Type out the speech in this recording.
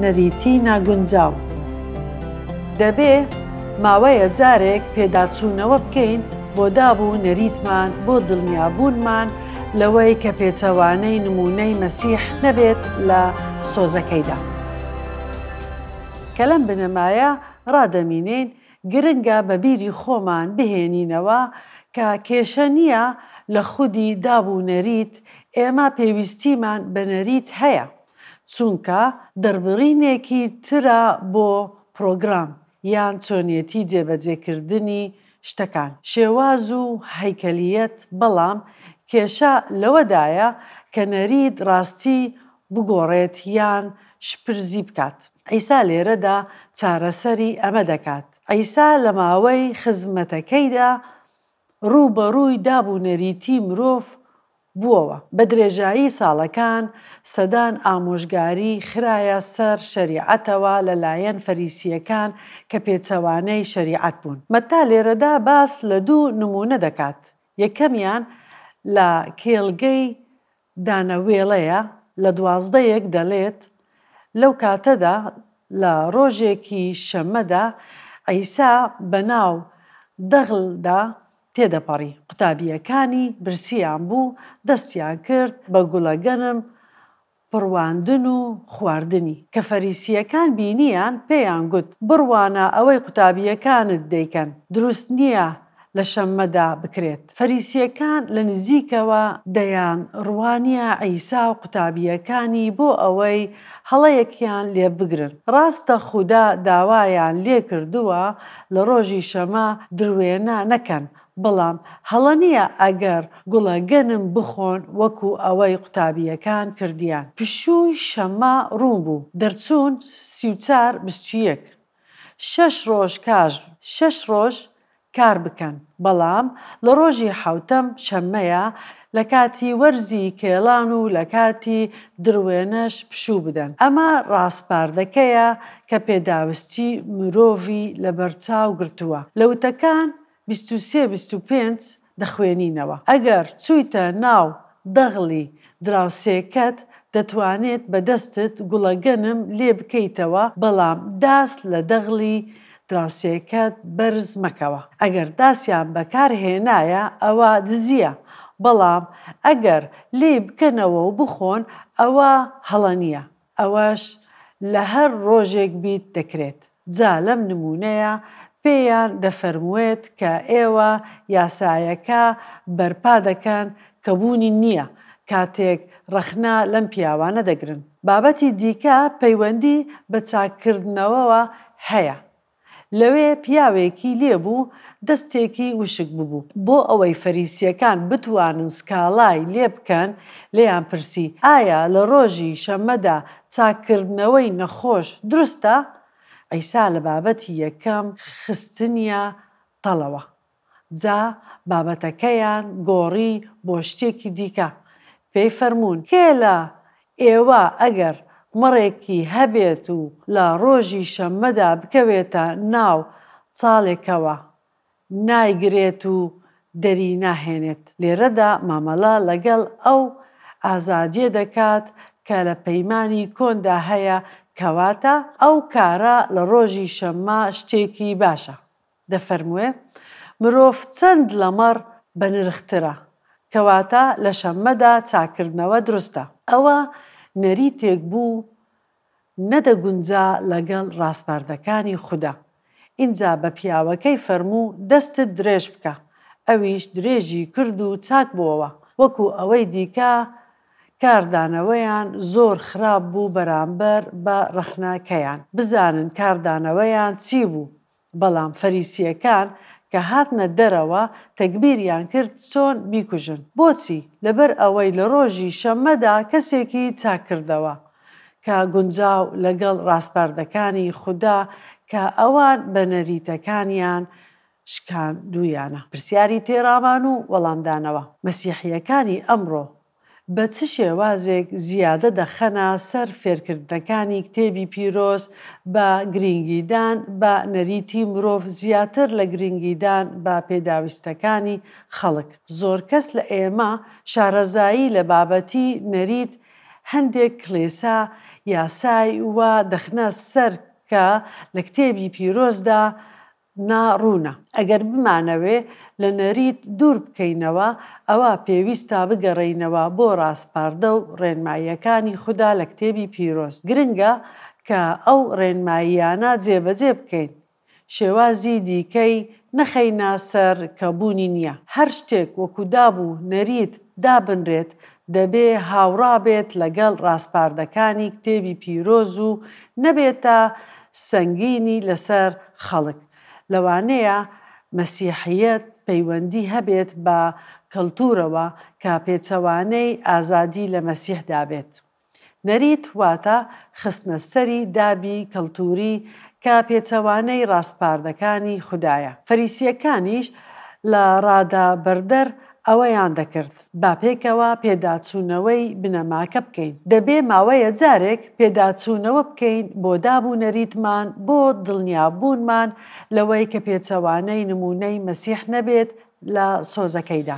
نەریتی ناگونجاو دەبێ ماوەیە جارێک پێداچوونەوە بکەین بۆ داب و نەریتمان بۆ دڵنیابوونمان لەوەی کە پێچەوانەی نمونەی مەسیح نەبێت لە سۆزەکەیدا. کە لەم بنەمایە ڕادەمینین، گرنگە بە بیری خۆمان بهێنینەوە کە کێشە نییە لە خودی داب و نەریت، ئێمە پێویستیمان بە نەریت هەیە، چونکە دەڕبڕینێکی ترە بۆ پرۆگرام یان چۆنیەتی جێبەجێکردنی شتەکان، شێواز و هەیکەلییەت، بەڵام کێشە لەوەدایە کە نەریت ڕاستی بگۆڕێت یان شپرزی بکات. عیسا لێرەدا چارەسەری ئەمە دەکات. عیسا لە ماوەی خزمەتەکەیدا ڕووبەڕووی داب و نەریتی مرۆڤ بووەوە. بە درێژایی ساڵەکان، سەدان ئامۆژگاری خرایە سەر شەریعەتەوە لەلایەن فەریسییەکان کە پێچەوانەی شەریعەت بوون. مەتا لێرەدا باس لە دوو نموونە دەکات، یەکەمیان لە کێڵگەی دانە وێڵەیە لە دوازدە ێک دەلێت، لەو کاتەدا لە رۆژێکی شەمەدا عیسا بەناو دەغل دا تێدەپەڕی، قوتابیەکانی برسیان بوو دەستیان کرد بە گوڵە گەنم پڕواندن و خواردنی، کە فەریسیەکان بینیان پێیان گوت، بڕوانە ئەوەی قوتابیەکانت دەیکەن دروست نیە، لە شەممەدا بکرێت. فەریسییەکان لە نزیکەوە دەیان ڕوانییە عیسا و قوتابییەکانی بۆ ئەوەی هەڵەیەکیان لێ بگرن. ڕاستە خودا داوایان لێ کردووە لە ڕۆژی شەمە دروێنە نەکەن، بەڵام هەڵە نییە ئەگەر گوڵە گەنم بخۆن وەکو ئەوەی قوتابییەکان کردیان. پشووی شەمە ڕوون بوو، دەرچوون سی و چار بستویەک. شەش ڕۆژ کار شەش ڕۆژ کار بکەن، بەڵام لە ڕۆژی حەوتەم، شەممەیە، لە کاتی وەرزی کێڵان و لە کاتی دروێنەش پشوو بدەن. ئەمە ڕاسپاردەکەیە کە پێداویستی مرۆڤی لەبەرچاو گرتووە لە وتەکان بیست و سێ بیست و پێنج دەخوێنینەوە ئەگەر چویتە ناو دەغڵی دراوسێکەت دەتوانێت بەدەستت گوڵەگەنم لێ بکەیتەوە بەڵام داس لە دەغڵی دراوسێکەت بەرز مەکەوە ئەگەر داسیان بەکار هێنایە ئەوە دزیە بەڵام ئەگەر لێی بکەنەوە و بخۆن ئەوە هەڵە نیە ئەوەش لە هەر ڕۆژێک بیت دەکرێت، جا لەم نموونەیە پێیان دەفەرمووێت کە ئێوە یاسایەکە بەرپا دەکەن کە بوونی نییە کاتێک ڕەخنە لەم پیاوانە دەگرن. بابەتی دیکە پەیوەندی بە چاککردنەوەوە هەیە. لەوێ پیاوێکی لێ بوو دەستێکی وشک ببوو، بۆ ئەوەی فەریسییەکان بتوانن سکاڵای لێ بکەن، لێیان پرسی، ئایا لە ڕۆژی شەممەدا چاککردنەوەی نەخۆش دروستە؟ عیسا لە بابەتی یەکەم خستنیە تەڵەوە، جا بابەتەکەیان گۆڕی بۆ شتێکی دیکە. پێی فەرموون، کێ لە ئێوە ئەگەر مەڕێکی هەبێت و لە ڕۆژی شەممەدا بکەوێتە ناو چاڵێکەوە، نایگرێت و دەری ناهێنێت؟ لێرەدا مامەڵە لەگەڵ ئەو ئازادییە دەکات کە لە پەیمانی کۆندا هەیە، کەواتە ئەو کارە لە ڕۆژی شەممە شتێکی باشە. دەفەرمووێ، مرۆڤ چەند لە مەڕ بەنرخترە، کەواتە لە شەممەدا چاککردنەوە دروستە. ئەوە نەریتێک بوو نەدەگونجا لەگەڵ ڕاسپاردەکانی خودا. ئینجا بە پیاوەکەی فەرموو، دەستت درێژ بکە. ئەویش درێژی کرد و چاک بۆوە. وەکو ئەوەی دیکە کاردانەوەیان زۆر خراپ بوو بەرامبەر بە ڕەخنەکەیان. بزانن کاردانەوەیان چی بوو؟ بەڵام فەریسییەکان کە هاتنە دەرەوە، تەگبیریان کرد چۆن بیکوژن. بۆچی؟ لەبەر ئەوەی لە ڕۆژی شەممەدا کەسێکی چاک کردەوە، کە گونجاو لەگەڵ ڕاسپاردەکانی خودا کە ئەوان بە نەریتەکانیان شکاندوویانە. پرسیاری تێڕامان و وەڵامدانەوە. مەسیحییەکانی ئەمڕۆ بە چ شێوازێک زیادە دەخەنە سەر فێرکردنەکانی کتێبی پیرۆز بە گرینگیدان بە نەریتی مرۆڤ زیاتر لە گرینگیدان بە پێداویستەکانی خەڵک. زۆر کەس لە ئێمە شارەزایی لە بابەتی نەریت هەندێک کڵێسا یاسای وا دەخنە سەر کە لە کتێبی پیرۆزدا نا ڕوونە. ئەگەر بمانەوێ لە نەریت دوور بکەینەوە، ئەوا پێویستە بگەڕێینەوە بۆ ڕاسپاردە و ڕێنماییەکانی خودا لە کتێبی پیرۆز. گرنگە کە ئەو ڕێنماییانە جێبەجێ بکەین. شێوازی دیکەی نەخەینە سەر کە بوونی نییە. هەر شتێک وەکو داب و نەریت دابنرێت دەبێ هاوڕا بێت لەگەڵ ڕاسپاردەکانی کتێبی پیرۆز و نەبێتە سەنگینی لەسەر خەڵک. لەوانەیە مەسیحییەت پەیوەندی هەبێت بە کەڵتوورەوە کە پێچەوانەی ئازادی لە مەسیحدا بێت. نەریت واتە خستنە سەری دابی کەڵتووری کە پێچەوانەی ڕاسپاردەکانی خودایە فەریسییەکانیش لە ڕادا بەردەر ئەوەیان دەکرد. با پێکەوە پێداچوونەوەی بنەماکە بکەین. دەبێ ماوەیە جارێک پێداچوونەوە بکەین بۆ داب و نەریتمان بۆ دڵنیابوونمان لەوەی کە پێچەوانەی نموونەی مەسیح نەبێت لە سۆزەکەیدا.